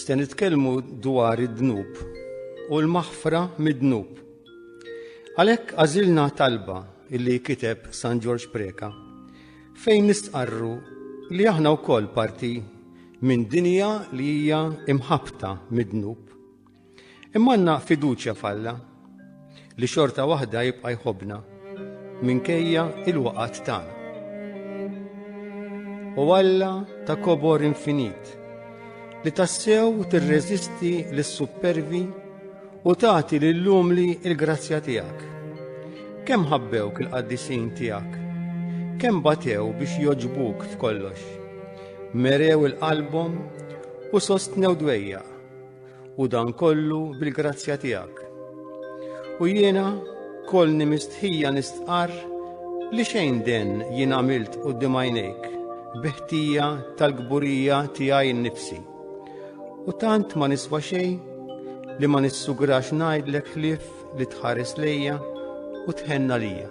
Se nitkellmu dwar id-dnub u l-maħfra mid-dnub. Għalhekk għażilna talba illi kiteb San Ġorġ Preka fejn nistqarru li aħna wkoll parti minn dinja li hija imħabta mid-dnub. Imma għandna fiduċja f'Alla li xorta waħda jibqa' jħobbna minkejja il-waqat tagħna. U Alla ta' kobor infinit li tassew tirreżisti lis-suppervi u tagħti lill-umli il-grazzja tiegħek. Kemm ħabbewk il-qaddisin tiegħek? Kemm batew biex joġbuk f'kollox? Merew il-qalbhom u sostnew dwejja. u dan kollu bil-grazzja tiegħek. U jiena kolni mistħija nistqar li xejn den jien għamilt u dimajnejk biħtija tal-gburija tiegħi nnifsi. U tant ma niswa xejn li ma nissugrax ngħidlek ħlief li tħares lejja u tħenna lija.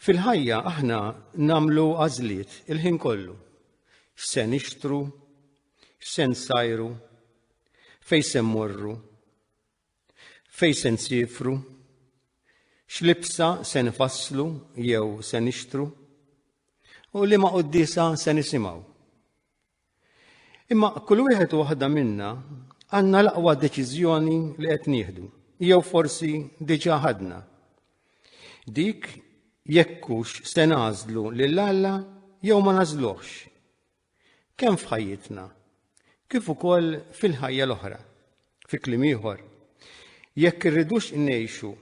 Fil-ħajja aħna namlu għażliet il-ħin kollu. X'se nixtru, x'se nsajru, fejn se mmorru, fejn se nsifru, x'libsa se nfasslu jew se nixtru, u li ma qoddisa se nisimgħu. Imma kull wieħed u waħda minna għandna l-aqwa deċiżjoni li qed nieħdu, jew forsi diġà ħadna. Dik jekkux se nażlu lil Alla jew ma nażluhx. Kemm f'ħajjitna, kif ukoll fil-ħajja l-oħra, fi kliem ieħor, jekk irridux ngħixu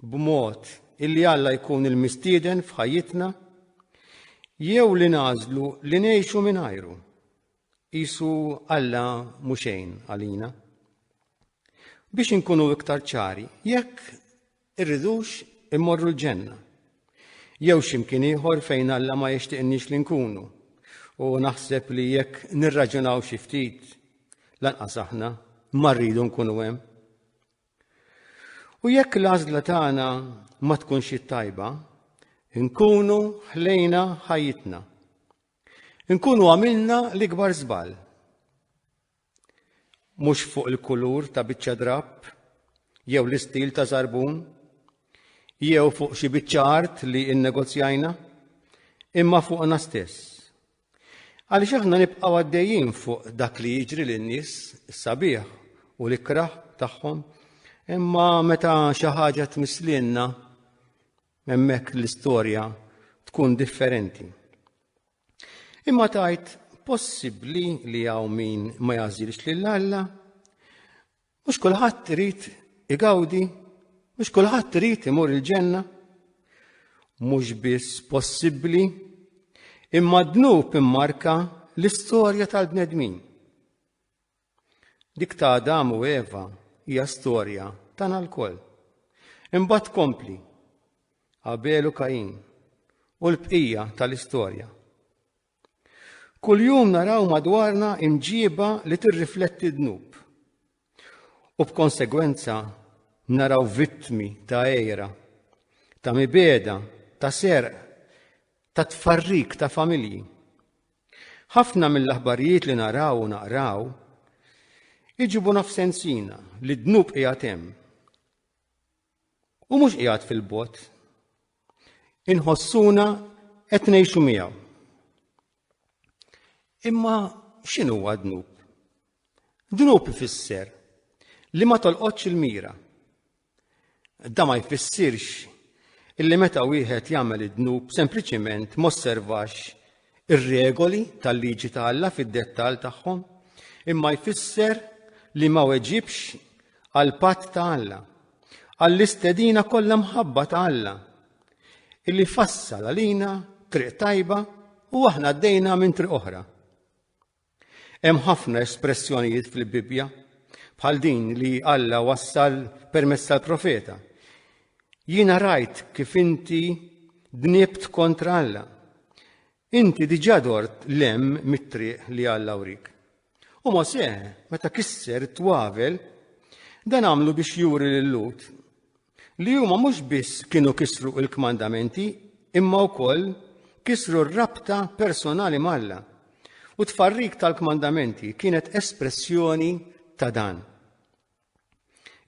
b'mod illi Alla jkun il-mistieden f'ħajjitna, jew li nagħżlu li ngħixu mingħajru, qisu Alla mhu xejn għalina. Biex inkunu iktar ċari, jekk irridux immorru l-ġenna, jew x'imkien ieħor fejn Alla ma jixtieqniex li nkunu, u naħseb li jekk nirraġunaw xi ftit, lanqas aħna ma rridu nkunu hemm. U jekk l-għażla tagħna ma tkunx it-tajba, nkunu ħlejna ħajjitna. Nkunu għamilna l-ikbar żball. Mhux fuq il-kulur ta' biċċa drapp, jew l-istil ta' żarbun, jew fuq xi biċċa art li innegozjajna, imma fuqna stess. Għaliex aħna nibqgħu għaddejjin fuq dak li jiġri lin-nies is-sabiħ u l-ikrah tagħhom, imma meta xi ħaġa tmisslielna hemmhekk l-istorja tkun differenti. Imma tgħid possibbli li hawn min ma jagħżilx lil Alla? Mhux kulħadd irid igawdi, mhux kulħadd irid imur il-ġenna. Mhux biss possibbli, imma dnub immarka l-istorja tal-bnedmin. Dik ta' Adam u Eva hija storja tagħna lkoll. Imbagħad kompli Abel u Kain u l-bqija tal-istorja. Kuljum naraw madwarna imġiba li tirrifletti dnub. U b'konsegwenza naraw vittmi ta' ejra, ta' mibeda, ta' serq, ta' tfarrik ta' familji. Ħafna mill-aħbarijiet li naraw u naqraw iġibu nafsensina li dnub qiegħed hemm. u mhux qiegħed fil-bot. Inħossuna qed ngħixu miegħu. Imma x'inhu huwa dnub? Dnub ifisser li ma tolqotx il-mira. Da ma jfissirx illi meta wieħed jagħmel id-dnub sempliċiment mosservax ir-regoli tal-liġi ta' Alla fid-dettall tagħhom, imma jfisser li ma weġibx għal patt ta' Alla, għall-istedina kollha mħabba ta' Alla, illi fassal għalina triq tajba u aħna għaddejna minn triq oħra. Hemm ħafna espressjonijiet fil-Bibbja bħal din li Alla wassal permezz tal-profeta. Jiena rajt kif inti dnibt kontra Alla. Inti diġà dort lem mit-triq li Alla wrik. U Mosè, meta kisser twavel, dan għamlu biex juri lil Lut Li huma mhux biss kienu kisru l-kmandamenti, imma wkoll kisru r-rabta personali malla. U tfarrik tal-kmandamenti kienet espressjoni ta' dan.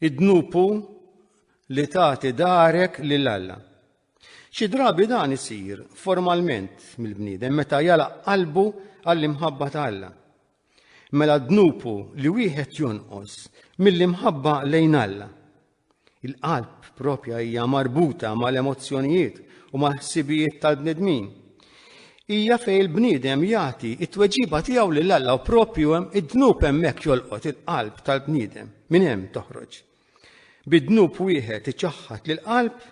Id-dnupu li tagħti darek lil Alla. Xi drabi dan isir formalment mill-bniedem meta jalaq qalbu għall-imħabba ta' Alla. Mela dnupu li wieħed jonqos mill-imħabba lejn Alla. Il-qalb propja hija marbuta mal-emozzjonijiet u mal-ħsibijiet tal-bnedmin. Hija fejn il-bniedem jagħti it-tweġiba tiegħu lil Alla u propju hemm id-dnub hemmhekk jolqot il-qalb tal-bniedem, minn hemm toħroġ. Bid-dnub wieħed iċaħħad lil qalb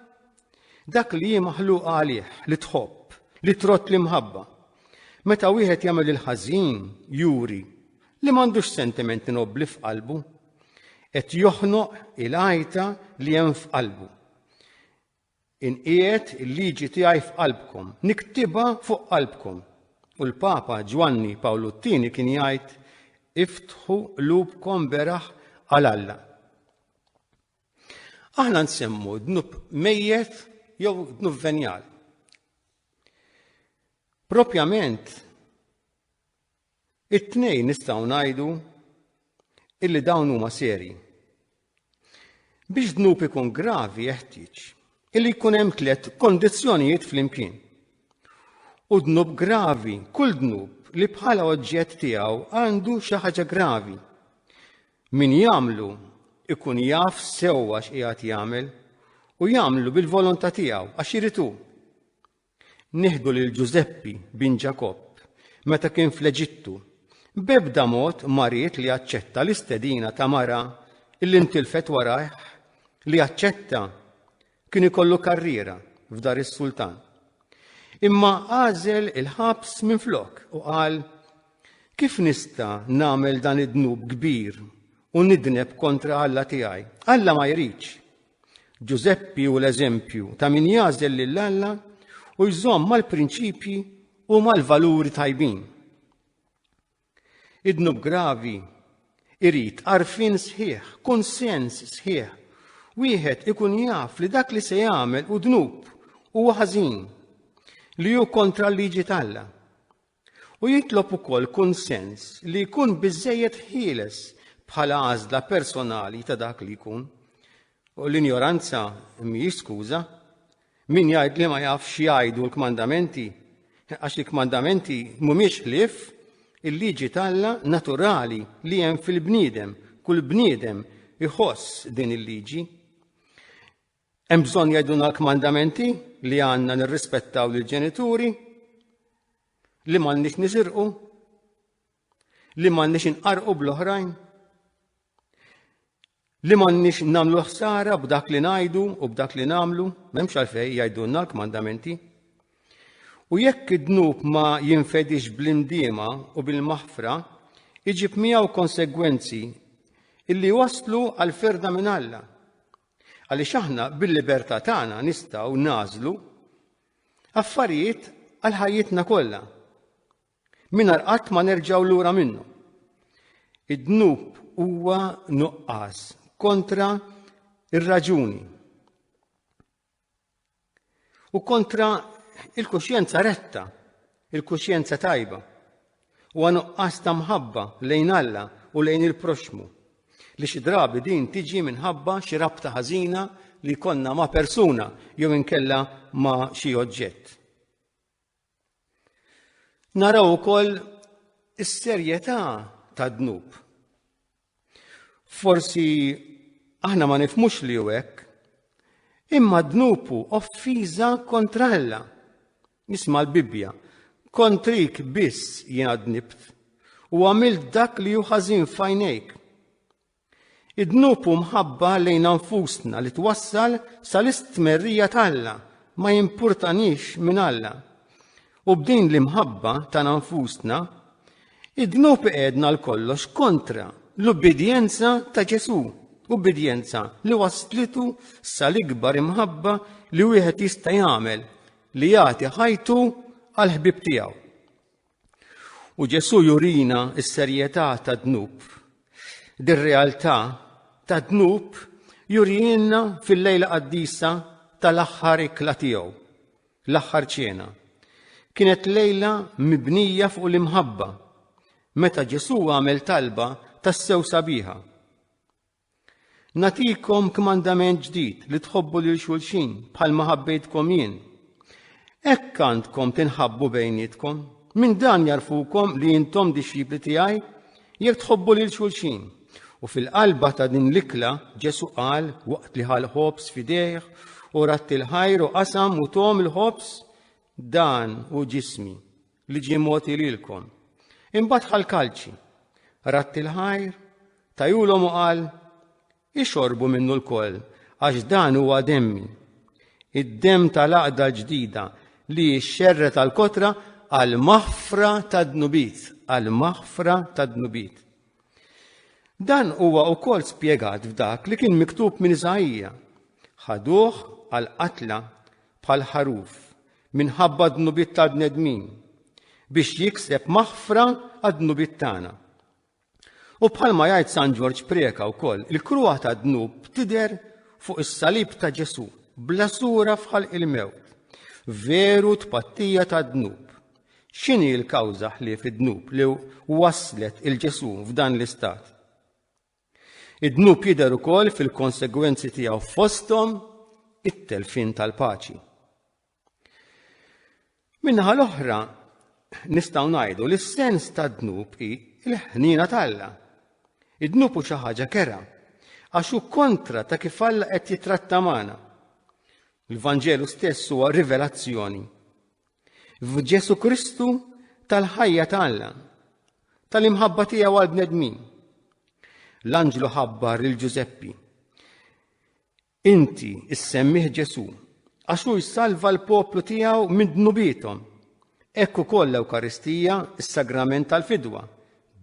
dak li hi maħluqa għalih, li tħobb, li trott l-imħabba. Meta wieħed jagħmel il-ħażin, juri li m'għandux sentimenti nobbli f'qalbu, Qed joħnoq il-għajta li hemm f'qalbu. Inqiegħed il-liġi tiegħi f'qalbkom, niktibha fuq qalbkom. U l-Papa Ġwanni Pawlu t-Tieni kien jgħid iftħu qlubkom beraħ għal Alla. Aħna nsemmu dnub mejjet jew dnub venjal. Propjament It-tnejn nistgħu ngħidu illi dawn huma serji. Biex dnub ikun gravi jeħtieġ illi jkun hemm tliet kondizzjonijiet flimkien. U dnub gravi, kull dnub li bħala oġġett tiegħu għandu xi ħaġa gravi. Min jagħmlu ikun jaf sewwa x'qiegħed jagħmel u jagħmlu bil-volontà tiegħu għax iritu. Nieħdu lil Ġużeppi bin Ġakobb meta kien fl-Eġittu, b'ebda mod ma ried li jaċċetta l-istedina ta' mara illi ntilfet warajh li jaċċetta kien ikollu karriera f'dar is-sultan. Imma għażel il-ħabs minn flok u qal Kif nista nagħmel dan id-dnub kbir u nidneb kontra Alla tiegħi? Alla ma jridx. Ġużeppi hu l-eżempju ta' min jagħżel lil Alla u jżomm mal-prinċipji u mal-valuri tajbin. Idnub gravi irid arfin sħiħ, kunsens sħiħ. Wieħed ikun jaf li dak li se jagħmel u dnub huwa ħażin li hu kontra l-liġi talla. u jitlob ukoll kunsens li jkun biżżejjed ħieles bħala għażla personali ta' dak li jkun. U l-injoranza mhijiex skuża. Min jgħid li ma jafx jgħidu l-kmandamenti, għax il-kmandamenti mhumiex ħlief il-liġi talla naturali li hemm fil-bniedem, kull bniedem iħoss din il-liġi. Hemm bżonn jgħiduna l-kmandamenti li għandna nirrispettaw lill-ġenituri, li m'għandniex nisirqu, li m'għandniex inqarqu bl-oħrajn, li m'għandniex nagħmlu ħsara b'dak li ngħidu u b'dak li nagħmlu, m'hemmx għalfejn jgħidulna l-kmandamenti. U jekk id-dnub ma jinfedix bl-indiema u bil-maħfra, iġib miegħu konsegwenzi illi waslu għal ferda minn Alla. Għaliex aħna bil-libertà tagħna nistgħu nagħżlu affarijiet għal ħajjitna kollha. Mingħajr qatt ma nerġgħu lura minnu. Id-dnub huwa nuqqas kontra ir-raġuni. U kontra il-kuxjenza retta, il-kuxjenza tajba, u għanuqqas ta' mħabba lejn Alla u lejn il-proxmu, li xi drabi din tiġi minħabba xi rabta ħażina li jkollna ma' persuna jew inkella ma' xi oġġett. Naraw ukoll is-serjetà tad-dnub. Forsi aħna ma nifmux li hu hekk, imma d-dnubu offiża kontra Alla. Nisma' l-Bibbja, kontrik biss jiena dnibt u għamilt dak li hu ħażin fajnejk. Id-dnub u mħabba lejna nfusna li twassal sal-istmerrija t'Alla ma jimpurtanix minn Alla. U b'din l-imħabba tagħna nfusna, id-dnub iqedna l-kollox kontra l-ubbidjenza ta' Ġesù, ubbidjenza li waslitu sal-ikbar imħabba li wieħed jista' jagħmel li jagħti ħajtu għall-ħbieb tiegħu. U Ġesù jurina s-serjetà tad-dnub. Dir-realtà tad-dnub jurijinna fil-lejla qaddisa tal-aħħar ikla tiegħu, l-aħħar ċena. Kienet lejla mibnija fuq l-imħabba, meta Ġesù għamel talba tas-sew sabiħa. Natikom kmandament ġdid li tħobbu lil xulxin bħal ma ħabbejtkom jien. Hekk għandkom tinħabbu bejnietkom. Minn dan jarfukom li intom dixxipli tiegħi jekk tħobbu lil xulxin. U fil-qalba ta' din l-ikla Ġesu qal waqt li ħal ħobs fidejh u ratti l-ħajr u qasam u tom il-ħobs dan u ġismi. li ġie mogħti lilkom. Imbagħad ħal kalċi, ratt il-ħajr, tajulhom u qal, ixorbu minnu l-koll, għax dan huwa demmi. Id-dem tal-aqda ġdida li xxerret għal kotra għal maħfra ta' dnubit, għal maħfra ta' dnubit. Dan huwa wkoll spjegat f'dak li kien miktub minn Iżajja. Ħaduh għal qatla bħal ħaruf minħabba d-dnubiet tal-bnedmin biex jikseb maħfra għad-dnubiet tagħna. U bħalma jgħid San Ġorġ Preka wkoll, il-kruha tad-dnub tidher fuq is-salib ta' Ġesu, bla sura fħal il-mewt. Veru tpattija tad-dnub. X'inhi l-kawża ħlief id-dnub li waslet il-Ġesu f'dan l-istat? Id-dnub jidher ukoll fil-konsegwenzi tiegħu fosthom it-telfien tal-paċi. Minnaħa l-oħra, nistgħu ngħidu li s-sens tad-dnub hi l-ħnina t'Alla. Id-dnub hu xi ħaġa kera, għax hu kontra ta' kif Alla qed jitratta magħna. Il-Vanġelu stess huwa rivelazzjoni. F'Ġesu Kristu tal-ħajja ta' Alla, tal-imħabba tiegħu għal bnedmin. L-anġlu ħabbar lil Ġużeppi. Inti issemmih Ġesu, għax hu jsalva l-poplu tiegħu minn dnubithom. Ekk ukoll l-Ewkaristija, is-sagrament tal-fidwa.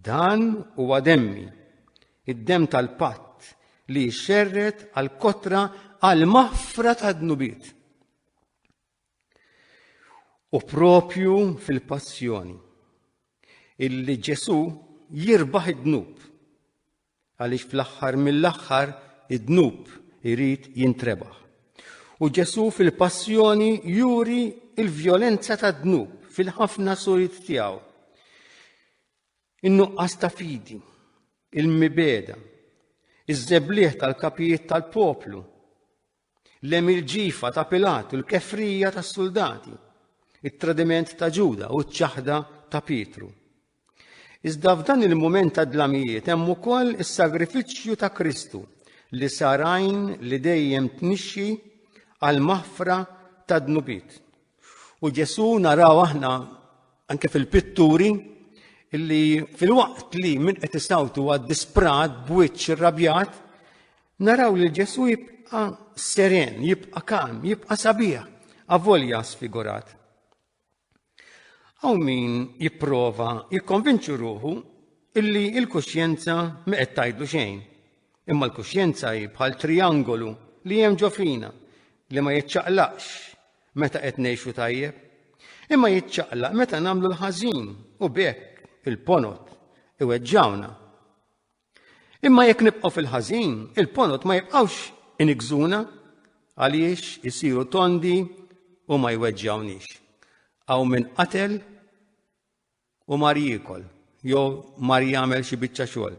Dan huwa demmi, id-dem tal-patt li xerret għal kotra għal maħfra ta' dnubiet. U propju fil-passjoni illi Ġesu jirbaħ id-dnub. Għaliex fl-aħħar mill-aħħar id-dnub irid jintrebaħ. U Ġesu fil-passjoni juri il-vjolenza tad-dnub fil-ħafna surit tiegħu. In-nuqqas ta' fidi, il-mibeda, iż-żebliħ tal-kapijiet tal-poplu, Lemm il-ġifa ta' Pilat u l-kefrija tas-suldati, it-tradiment ta' Ġuda u ċ-ċaħda ta' Pietru. Iżda f'dan il-mument ta' dlamijiet hemm ukoll is-sagrifiċċju ta' Kristu li sar għajn li dejjem tnixxi għal maħfra ta' dnubiet. U Ġesu naraw aħna anke fil-pitturi illi fil-waqt li min qed isawtu għad disprat b'wiċċ irrabjat, naraw li Ġesu jibqa' seren, jibqa' kalm, jibqa' sabiħ, avolja sfigurat. Aw min jipprova jikkonvinċu ruħu illi il-kuxjenza ma qed tgħidlu xejn, Imma l-kuxjenza hi bħal trijangolu li hemm ġo fina li ma jiċċaqlaqx meta qed ngħixu tajjeb, imma jiċċaqlaq meta nagħmlu l-ħażin u b'hekk il-ponot iweġġawna. Imma jekk nibqgħu fil-ħażin, il-ponot ma jibqgħux inigżuna għaliex isiru tondi u ma jweġġawnix. Aw min qatel u mar jiekol jew mar jagħmel xi biċċa xogħol.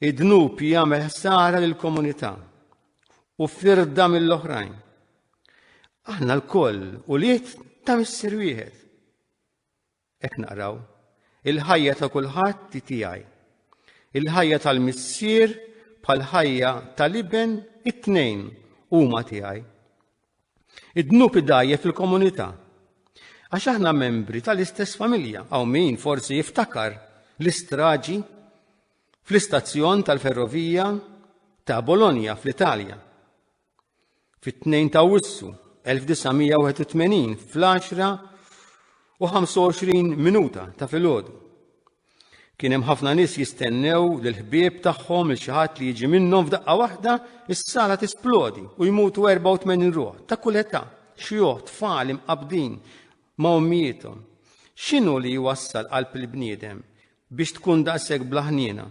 Id-dnub jagħmel ħsara lill komunità u firda mill-oħrajn. Aħna l-koll u liet ta' missir wieħed. Ek naqraw, il-ħajja ta' kulħadd ti tiegħi. Il-ħajja tal-missier bħal ħajja tal-iben it-tnejn huma tiegħi. Id-dnub idajjef il-komunità. Għax aħna membri tal-istess familja, hawn min forsi jiftakar l-istraġi fl-istazzjon tal-ferrovija ta' Bologna fl-Italja. Fit-2 ta' Wissu 1981 fl-10 u 25 minuta ta' filgħodu. Kien hemm ħafna nies jistennew lil ħbieb tagħhom il xi ħadd li jiġi minnhom f'daqqa waħda is-sala tisplodi u jmutu 84 ruħ ta' kull età, xjuħ, tfal imqabdin ma' ommijiethom. X'inhu li jwassal qalb il-bniedem biex tkun daqshekk blaħniena?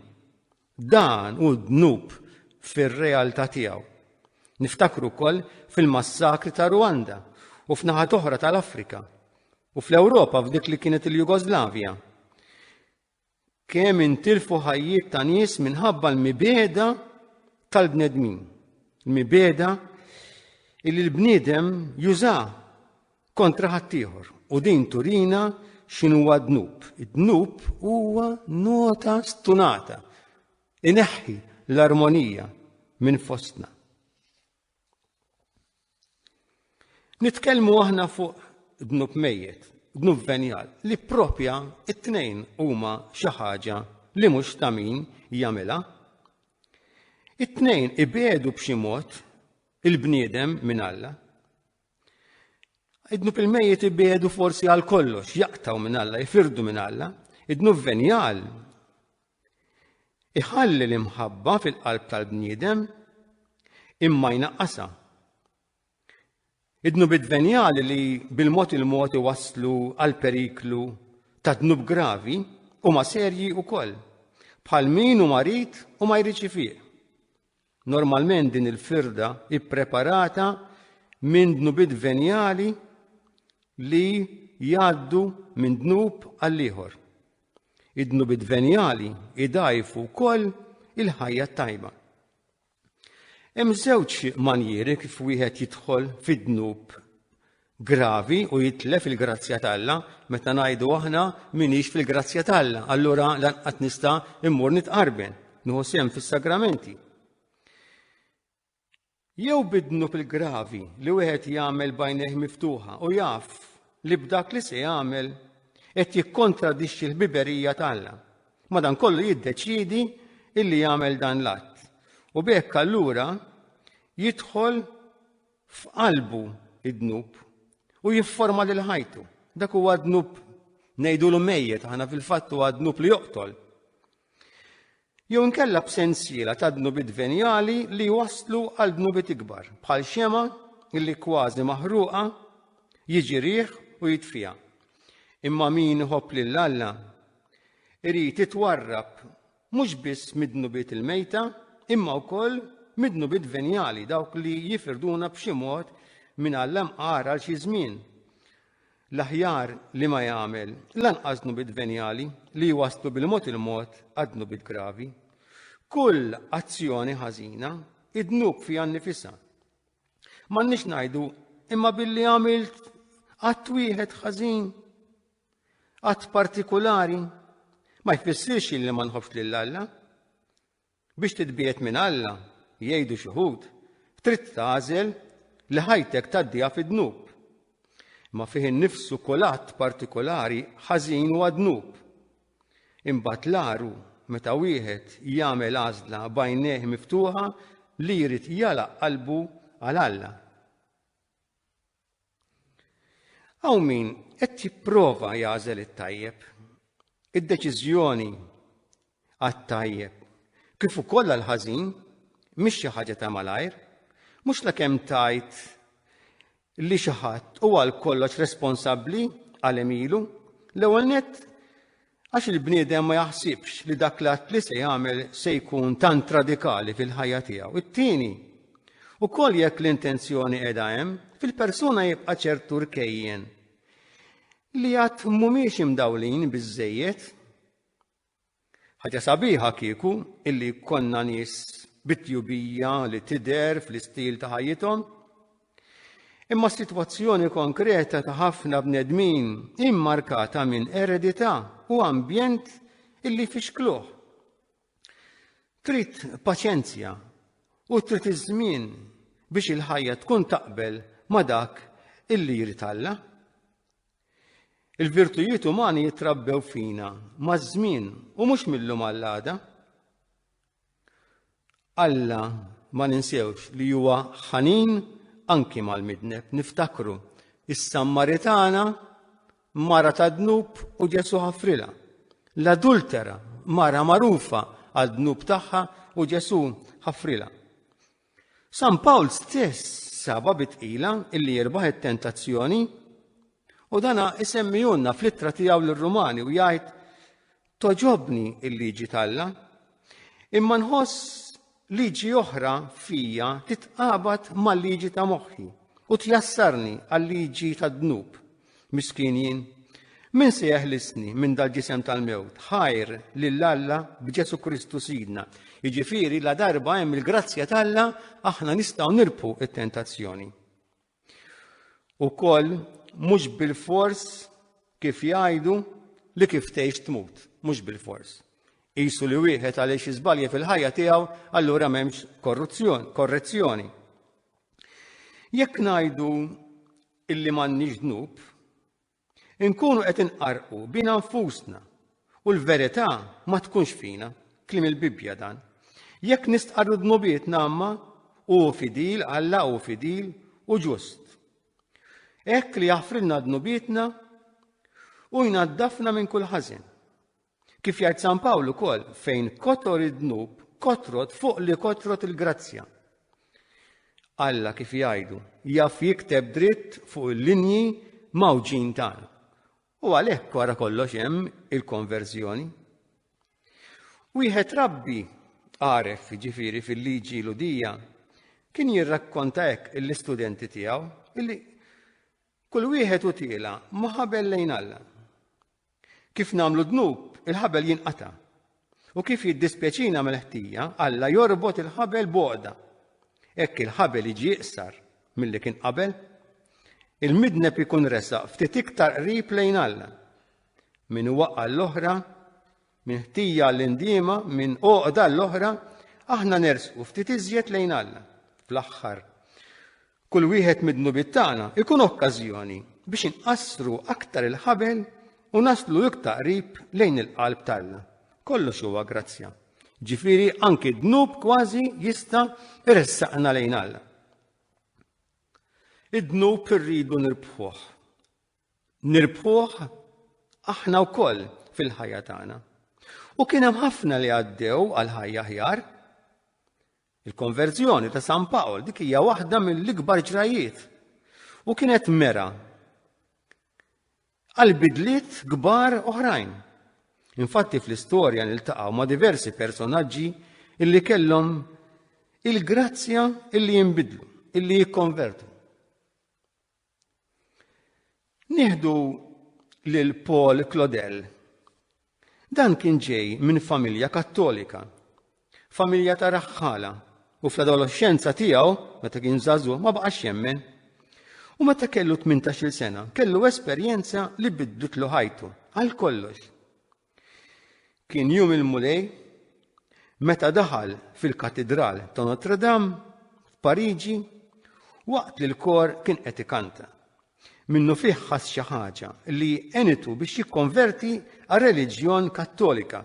Dan hu d-dnub fir-realtà tiegħu. Niftakru wkoll fil-massakri ta' Rwanda u f'naħat oħra tal-Afrika u fl-Ewropa f'dik li kienet il-Jugoslavja. Kemm intilfu ħajjiet ta' nies minħabba l-mibeda tal-bnedmin. L-mibeda illi l-bniedem juża kontra ħaddieħor u din turina x'inhuwa dnub. Id-dnub huwa nota stunata ineħħi l-armonija minn fostna. Nitkellmu aħna fuq dnub mejjet, dnub venjal, li propja it-tnejn huma xi ħaġa li mhux ta' min jagħmilha. It-tnejn ibedu b'xi mod il-bniedem minn Alla. Idnu fil-mejjet ibiedu forsi għal kollox, jaqtaw minn Alla, jifirdu minn Alla, idnu venjal. Iħalli l-imħabba fil-qalb tal-bniedem imma jnaqqasa. Idnu bid-venjal li bil-mod il-mod iwaslu għal periklu ta' dnub gravi u ma serji u koll, bħal min u marit u ma jriċi fiq. Normalment din il-firda hi ppreparata minn dnubiet venjali li jgħaddu minn dnub għall-ieħor. Id-dnubiet venjali idajfu wkoll il-ħajja t-tajba. Hemm żewġ manjieri kif wieħed jidħol fid-dnub gravi u jitlef il-grazzja t'Alla, meta ngħidu aħna minix fil-grazzja t'Alla, allura lanqas nista' immur nitqarben, nieħu sehem fis-sagramenti. Jew bidnu fil-gravi li wieħed jagħmel bajnejh miftuħa u jaf li b'dak li se jagħmel qed jikkontradixxi l-biberija tagħha. Madankollu jiddeċiedi illi jagħmel dan l-att. U bekk allura jidħol f'qalbu id-dnub u jifforma lil ħajtu. Dak huwa dnub ngħidulu mejjet aħna fil-fatt huwa dnub li joqtol. Jew inkella b'sensiela ta' dnubit venjali li waslu għal dnubit ikbar, bħal xema illi kważi maħruqa jiġi riħ u jitfija. Imma min iħobb lil Alla irid itwarrab mhux biss mid-dnubiet il-mejta, imma wkoll mid-dnubiet venjali, dawk li jifirduna b'xi mod minn Alla mqar għal xi żmien. L-aħjar li ma jagħmel lanqas dnubiet venjali li jwasslu bil-mod il-mod għad-dnubiet gravi. Kull azzjoni ħażina id-dnub fiha nnifisha. M'għandniex ngħidu imma billi għamilt qatt wieħed ħażin Att partikulari ma jfissirx li ma nħobbx lil Alla. Biex titbiet minn Alla, jgħidu xi ħud, trid tagħżel li ħajtek tgħaddiha fid-dnub. Ma fih innifsu kull att partikolari ħażin huwa dnub. Imbagħad l-aru meta wieħed jagħmel għażla bajnejh miftuħa li jrid jalaq qalbu għal Alla. Hawn min qed jipprova jagħżel it-tajjeb. Id-deċiżjoni għat-tajjeb kif ukoll għall-ħażin mhix xi ħaġa ta' malajr, mhux la kemm tajt li xi ħadd huwa għal kollox responsabbli għal emilu, l-ewwel nett Għax il-bniedem ma jaħsibx li dak l-att li se jagħmel se jkun tant radikali fil-ħajja tiegħu. It-tieni, ukoll jekk l-intenzjoni qiegħda hemm, fil-persuna jibqa' ċertu rkejjen li għad mhumiex imdawlin biżżejjed. Ħaġa sabiħa kieku illi konna nies bitjubija li tider fl-istil ta' ħajjithom, Imma s-sitwazzjoni konkreta ta' ħafna bnedmin hi mmarkata minn eredità u ambjent illi jfixkluh. Trid paċenzja u trid iż-żmien biex il-ħajja tkun taqbel ma' dak illi jrid Alla. Il-virtujiet umani jitrabbew fina maż-żmien u mhux mill-lum għall-għada. Alla ma ninsewx li huwa ħanin anki mal-midneb. Niftakru is-Sammaritana, mara ta' dnub u Ġesu ħafrila. L-adultera, mara magħrufa għad-dnub tagħha u Ġesu ħafrila. San Pawl stess saba bi tqila illi jirbaħ it-tentazzjoni u dana isemmijunna fl-ittra tiegħu lir-Rumani u jgħid toġobni il-liġi talla. Imma nħoss liġi oħra fija titqabad mal-liġi ta' moħħi u tjassarni għal-liġi tad-dnub. Miskin jien. Min se jeħlisni minn dal-ġisem tal-mewt? Ħajr lil Alla b'Ġesu Kristu Sidna. Jiġifieri la darba hemm il-grazzja t'Alla aħna nistgħu nirbħu it-tentazzjoni. Ukoll mhux bil-fors kif jgħidu li kif tgħix tmut, mhux bil-fors. Isu li wieħed għaliex iżbalja fil-ħajja tiegħu allura m'hemmx korruzzjoni, korrezzjoni. Jekk ngħidu illi m'għandniex dnub, inkunu qed inqarqu bina nfusna u l-verità ma tkunx fina, klim il-Bibbja dan. Jekk nistqarru dnubiet namma, u fidil, Alla u fidil u ġust. Ekk li jaffrilna dnubietna u jnaddafna minn kull ħażin. Kif jgħid San Pawl ukoll, fejn kotor id-dnub, kotrot fuq li kotrot il-grazzja. Alla kif jgħidu, jaf jikteb dritt fuq il-linji mawġin tagħna. U għalhekk wara kollox hemm il-konverżjoni. Wieħed rabbi għaref ġifiri fil-liġi ludija kien jirrakkonta hekk l-istudenti tiegħu illi kull wieħed u tiela ma ħabel lejn Alla. Kif nagħmlu dnub, il-ħabel jinqata'. U kif jiddispjaċina mill-ħtija, Alla jorbot il-ħabel boqda. Hekk il-ħabel jiġi iqsar milli kien qabel. Il-midneb ikun resaq ftit iktar qrib lejn Alla. Min waqqa' l-oħra Minn ħtija għall-indiema, minn għoqda l-oħra, aħna nersqu ftit iżjed lejn Alla. Fl-aħħar, kull wieħed mid-dnubiet tagħna ikun okkażjoni biex inqassru aktar il-ħabel u naslu iktar qrib lejn il-qalb talla. Kollox huwa grazzja. Ġifiri, anki dnub kważi jista iressaqna lejn Alla. Id-dnub irridu nirbħuħ. nirbħuh aħna wkoll fil-ħajja tagħna. U kien hemm ħafna li għaddew għal ħajja ħjar. Il-konverżjoni ta' San Pawl dik hija waħda mill-ikbar ġrajiet. U kienet mera għal bidliet kbar oħrajn. Infatti fl-istorja niltaqgħu ma' diversi personaġġi illi kellhom il-grazzja illi jinbidlu, illi jikkonvertu. Nieħdu lil Paul Claudel. Dan kien ġej minn familja kattolika, familja ta' raħħala, u fl-adolescenza tiegħu, meta kien żagħżugħ, ma baqax jemmen. U meta kellu 18-il sena, kellu esperjenza li bidditlu ħajtu għal kollox. Kien jum il-Mulej meta daħal fil-Katidral ta' Notre Dame f'Pariġi waqt li l-kor kien qed ikanta. Minnu fih ħass xi ħaġa li għenitu biex jikkonverti għal reliġjon kattolika.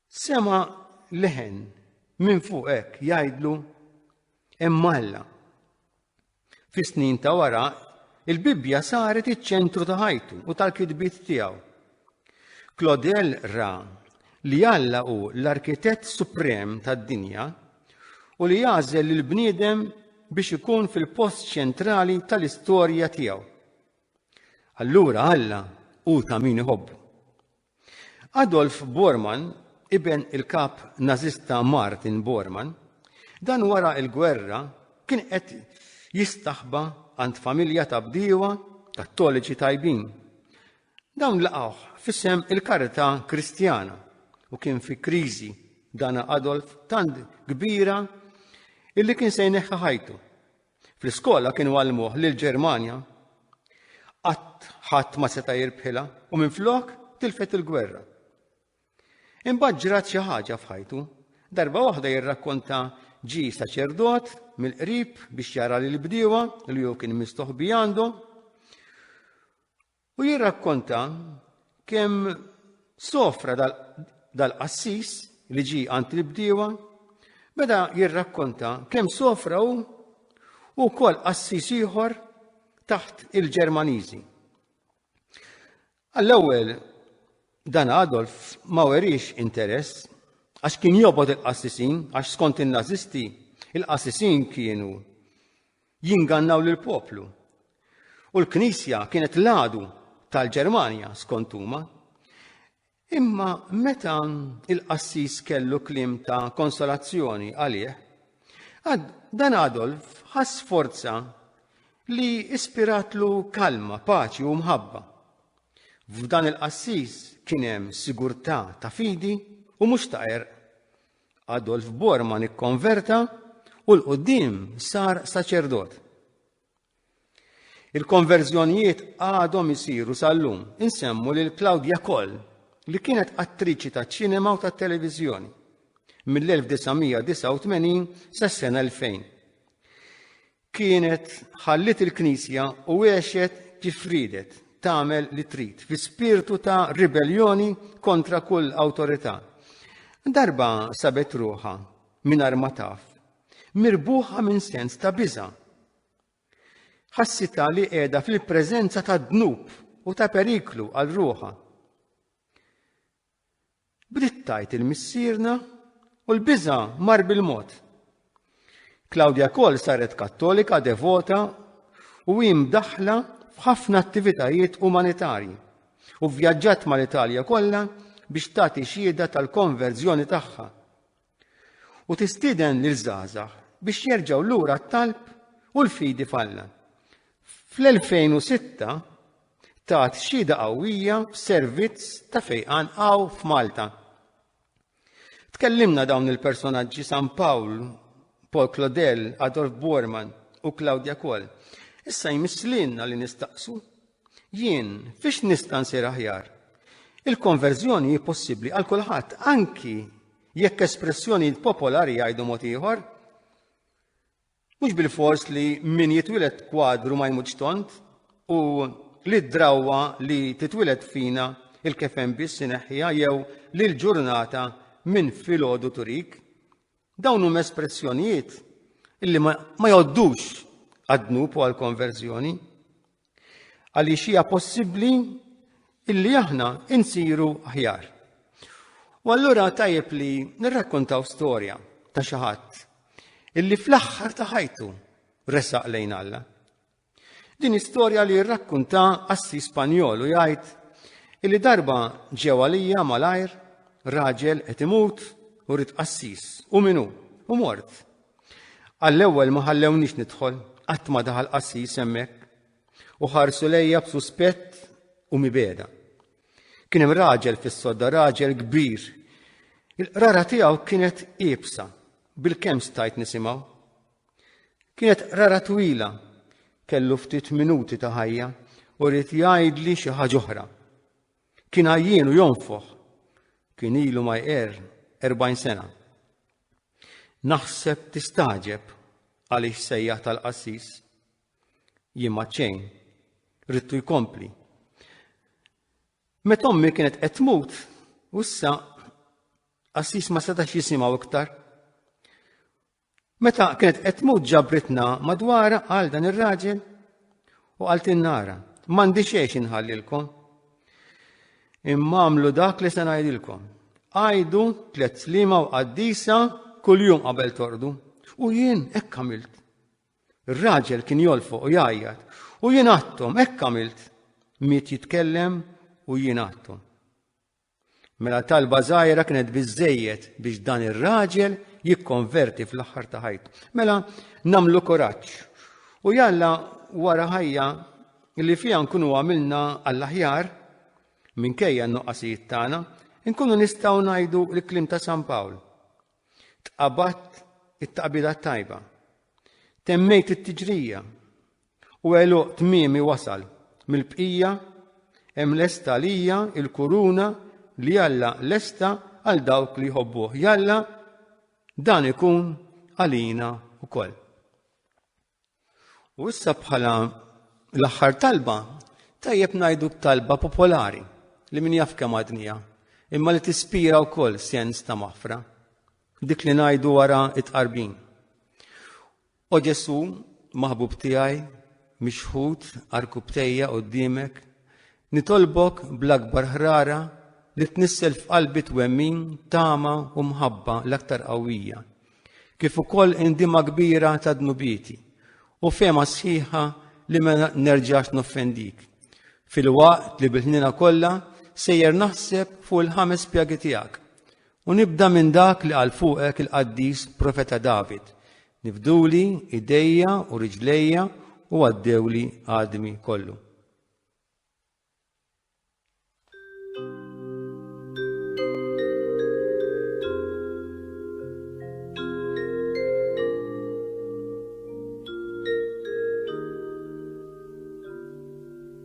Sema' leħen minn fuq hekk jgħidlu hemm Alla. Fis-snin ta' wara, il-Bibbja saret iċ-ċentru ta' ħajtu u tal-kitbiet tiegħu. Claudel ra li Alla hu l-arkitett suprem tad-dinja u li jagħżel lil bniedem biex ikun fil-post ċentrali tal-istorja tiegħu. Allura Alla hu ta' min iħobbu. Adolf Bormann, iben il-kap Nażista Martin Bormann, dan wara l-gwerra kien qed jistaħba għand familja ta' bdiewa Kattoliċi tajbin. Dawn laqgħuh f'isem il-karità Kristjana u kien fi kriżi dana Adolf tant kbira illi kien se jneħħa ħajtu. Fl-iskola kienu għallmuh li l-Ġermanja qatt ħadd ma seta' jirbħilha u minflok tilfet il-gwerra. Imbagħad ġrat xi ħaġa f'ħajtu. Darba waħda jirrakkonta ġi saċerdot mill-qrib biex jara lil bdiewa li hu kien mistoħbi għandhom U jirrakkonta kemm sofra dal-qassis li ġi għand il-bdiewa, beda jirrakkonta kemm sofra hu u kol qassis ieħor taħt il-Ġermaniżi. Għall-ewwel dan Adolf ma werix interess għax kien jobod il-qassisin, għax skont il-nazisti, il-qassisin kienu jingannaw lill-poplu. U l-Knisja kienet l-għadu tal-Ġermanja skont huma. Imma meta il-qassis kellu klim ta' konsolazzjoni għalih, dan Adolf ħass forza li ispiratlu kalma, paċi u mħabba. F'dan il-qassis kien hemm sigurtà ta' fidi u mhux ta' erq. Adolf Bormann ikkonverta u l-qoddim sar saċerdot. Il-konverżjonijiet għadhom isiru sal-lum. Insemmu lil Claudia Koll, li kienet attriċi ta' ċinema u ta' televiżjoni mill-1989 sas-sena 2000. kienet ħalliet il-Knisja u għexet kif riedet tagħmel li trid fi spirtu ta' ribelljoni kontra kull awtorità. Darba sabet ruħa mingħajr ma taf, mirbuħa minn sens ta' biża. Ħassita li qiegħda fil-preżenza ta' dnub u ta' periklu għal ruħa. Bdiet tgħid il-missierna u l-biża' mar bil-mod. Claudia Koll saret Kattolika devota u hi mdaħħla f'ħafna attivitajiet umanitarji u vvjaġġat mal-Italja kollha biex tagħti xhieda tal-konverżjoni tagħha. u tistieden lil żgħażagħ biex jerġgħu lura t-talb u l-fidi f'Alla. Fl-2006 tat xhieda qawwija f'servizz ta' fejqan qaw f'Malta. Tkellimna dawn il-personaġġi San Pawl, Paul Claudel, Adolf Bormann u Claudia Koll. Issa jmisslilna li nistaqsu Jien, fiex nista' nsir aħjar? Il-konverżjoni hi possibbli għal kulħadd, anki jekk espressjoni popolari jgħidu mod ieħor. Mhux bil-fors li min jitwilet kwadru ma jmutx tont u li d-drawwa li titwilet fina il-kefen biss ineħħiha jew li l-ġurnata minn filgħodu turik. Dawn huma espressjonijiet illi ma jgħoddux għad-dnub u għall-konverżjoni. Għaliex hija possibbli illi aħna insiru aħjar. U allura tajjeb li nirrakkontaw storja ta' xi ħadd illi fl-aħħar ta' ħajtu resaq lejn Alla. Din istorja li rrakkunta assi Spanjol u jgħid illi darba ġew għalija malajr raġel qed imut u rid qassis u minu u mort. Għall-ewwel ma ħallewniex nidħol qatt ma daħal qassis hemmhekk u ħarsu lejja b'suspett u mibeda. Kien hemm raġel fis-sodda raġel kbir. Il-qrara tiegħu kienet iebsa bil-kemm stajt nisimgħu. Kienet qrara twila, kellu ftit minuti ta' ħajja u rrid jgħidli xi ħaġa oħra. Kien għajjien u jonfoħ. Kien ilu ma jqer 40 sena. Naħseb tistaġeb għaliex sejjaħ tal-qassis. Jien ma ċejn, rittu jkompli. Meta ommi kienet qed tmut, u issa qassis ma setax jisimgħu iktar. Meta kienet qed tmut ġabritna madwara għal dan ir-raġel u għal tinnara, mandi xejx inħallilkom. Imma għamlu dak li se ngħidilkom. Għajdu tliet slima u qaddisa kuljum qabel tordu. U jien hekk għamilt. Ir-raġel kien jolfoq u jgħajjat u jien għattom hekk għamilt. Miet jitkellem u jien għattom. Mela talba żgħira kienet biżejjed biex dan ir-raġel jikkonverti fl-aħħar ta' ħajtu. Mela namlu kuraġġ. U jalla wara ħajja li fiha nkunu għamilna għall-aħjar minkejja n-nuqqasijiet tagħna, nkunu nistgħu ngħidu l-klim ta' San Pawl. Tqabat it-taqbida tajba. Temmejt it-tiġrija. U għeluq tmiemi wasal, mill-bqija hemm lesta għalija il-kuruna li Alla lesta għal dawk li jħobbuh. Jalla dan ikun għalina wkoll. U issa bħala l-aħħar talba tajjeb ngħidu talba popolari li min jaf kemm għadnija, imma li tispira wkoll sens ta' maħfra. Dik li ngħidu wara it-qarbin. O Ġesù, maħbub tiegħi, mixħut għarkubbtejja quddiemek, nitolbok bl-akbar ħrara li tnissel f'qalbi twemmin, tama u mħabba l-aktar qawwija, kif ukoll indima kbira ta' dnubieti u fema sħiħa li ma nerġax noffendik. Fil-waqt li bil-ħnina kollha sejjer naħseb fuq il-ħames pjagi tiegħek U nibda minn dak li qal fuqek il-qaddis profeta David, Nifduli idejja u riġlejja u għaddewli għadmi kollu.